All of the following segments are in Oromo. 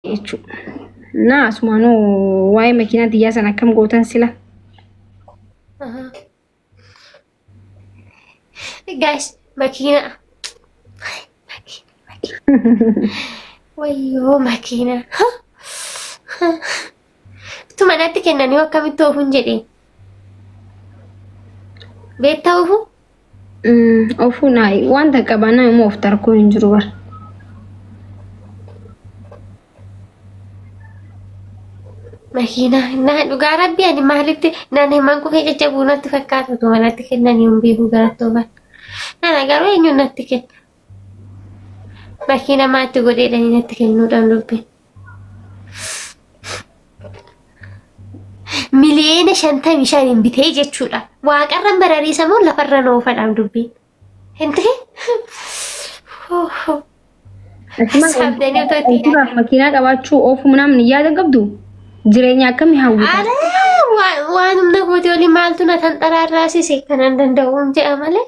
jechuudha. Naa asumaanuu waa'ee makiinaa tiyyaa san akkam gootan sila. Guys, makiina. Wayyoo makiina. Utuu manatti kennanii hoo akkamitti oofun jedhe? Beektaa oofuu? Mm, Ofuu naa wanta qabaa nama immoo of tarkuu hin jiru bar. Makiinaa naa dhugaa rabbi ani maalitti naan himan kufee jajjabuu natti fakkaatu utuu manatti kennanii hin beekuu garatti oofan. Nana garuu eenyuun natti kenna? Makiina maatti godheedhanii natti kennuudhaan dubbiin. miliyeena shantamii shaniin bitee jechuudha. Waaqarran barariisa moo lafarra noofadhaan dubbiin. Hintee? Saabdanii otoo itti Antibaaf makiinaa qabaachuu oofuu namni yaada qabdu jireenya akkamii hawwita? Ala waan humna kooti olii maaltu na tanxaraarraasise kanan danda'uun jedha malee.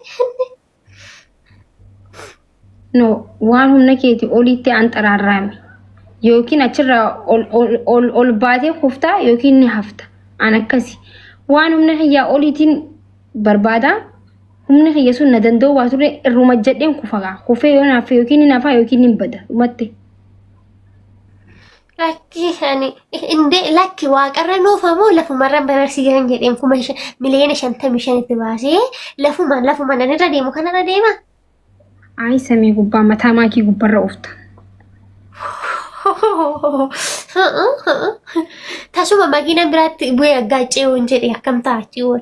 no waan humna keeti oliitti an xaraarraame yookiin achirraa ol, ol, ol, ol baatee kuftaa yookiin ni hafta an akkasi waan humna kiyyaa oliitiin barbaada humni kiyya sun na danda'u waa ture irruma jedheen kufagaa kufee yoo naaffe yookiin ni nafaa yookiin ni bada dhumatti Lakki ani indee lakki waaqarra nuufa moo lafumarra bararsiisan jedheen kuma miliyoona shantamii shanitti baasee lafuma lafuma nan irra deemu kanarra deema. Ayi samii gubbaa mataa maakii gubbarra oofta. Tasuma makiinaan biraatti bu'ee aggaacee woon jedhe akkam ta'a achi woon.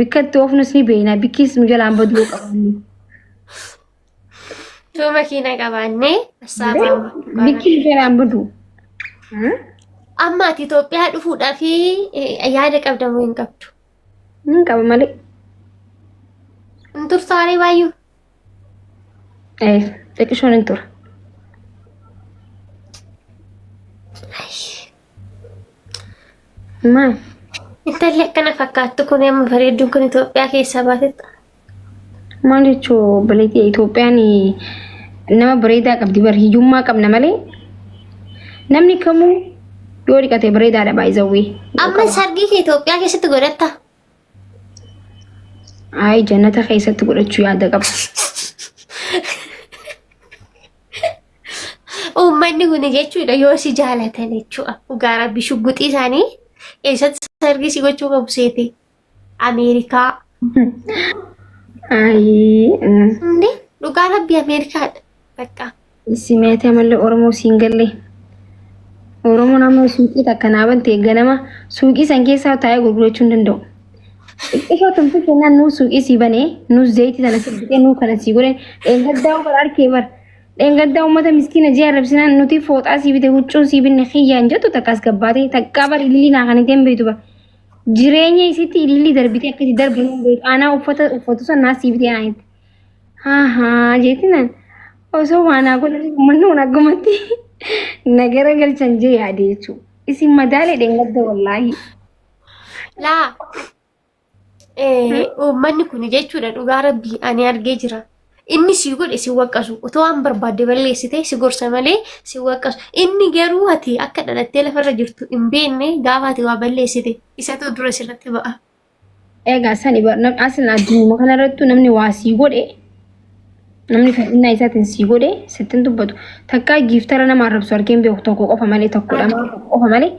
Bikka itti oofnus ni beekna. Bikkiis nu jalaan baduu qabanne. Yoo makiina qabaannee assaabaa Bikki nu jalaan baduu. Amma ati Itoophiyaa dhufuudhaa fi yaada qabda moo hin qabdu? Nan qaba malee. Hin turtaaree baay'uu? Eh, xiqqishoon hin tura. Maal? Intalli akkana fakkaattu kun amma bareedduun kun Itoophiyaa keessaa baatetti. Maal jechuu obboleettii Itoophiyaan nama bareedaa qabdi bar hiyyummaa qabna malee namni kamuu yoo dhiqate bareedaadha baay'izawwee. Amma sargii kee Itoophiyaa keessatti godhatta. Ayi jannata keessatti godhachuu yaada qaba. Uummanni kun jechuudha yoo si jaalatan jechuudha. Dhugaa rabbi shugguxii isaanii eessatti sargii si gochuu qabu seete. Ameerikaa. Ayi. Inni dhugaa rabbi Ameerikaadha. Bakka Simeetee malee Oromoo siin gallee. Oromoon amma suuqii takka naa bante ganama suuqii san keessaa taa'ee gurgurachuu hin danda'u. Xiqqishoo tumtuu kennaan nuu suuqii sii banee nuu zayitii sana sii bitee nuu kana sii godhee dheengaddaa bar arkee bar. Dheengaddaa uummata miskiina jee arrabsinaan nuti fooxaa sii bite huccuu sii binne kiyyaan jettu takkaas gabbaatee takkaa bar ililii naa kan ittiin beektu bar. Jireenya isitti ililii darbitee akkasii darbu hin beektu. Aanaa uffata uffatu san naa sii bitee naa jette. Ahaa jeetinan osoo waanaa godhanii uummannoon aggumatti nagara galchan jee yaade jechuudha. Isin madaalee dheengadda wallaahi. Laa uummanni kun jechuudha dhugaa rabbii ani argee jira. Inni si godhe si waqqasu otoo waan barbaadde balleessite si gorsa malee si waqqasu. Inni garuu ati akka dhalattee lafarra jirtu hin beekne gaafa ati waa balleessite isatu dura sirratti ba'a. Egaa sani bar- nam- aslan addunyaa kanarrattu namni waa sii godhe namni fedhinnaa isaatiin sii godhe sittin dubbatu takkaa giiftara nama arrabsu argeen beeku tokko qofa malee tokko lama tokko qofa malee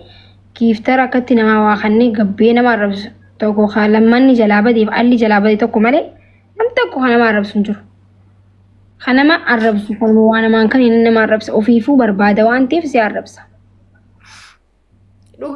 giiftara akkatti namaa waa kannee gabbee nama arrabsu tokko kaa lammanni jalaa badeef alli jalaa badee tokko malee nam tokko kan nama arrabsu hin jiru. Kan nama arrabsu kan waa namaan kan inni nama arrabsa ofiifuu barbaada waan ta'eef si arrabsa.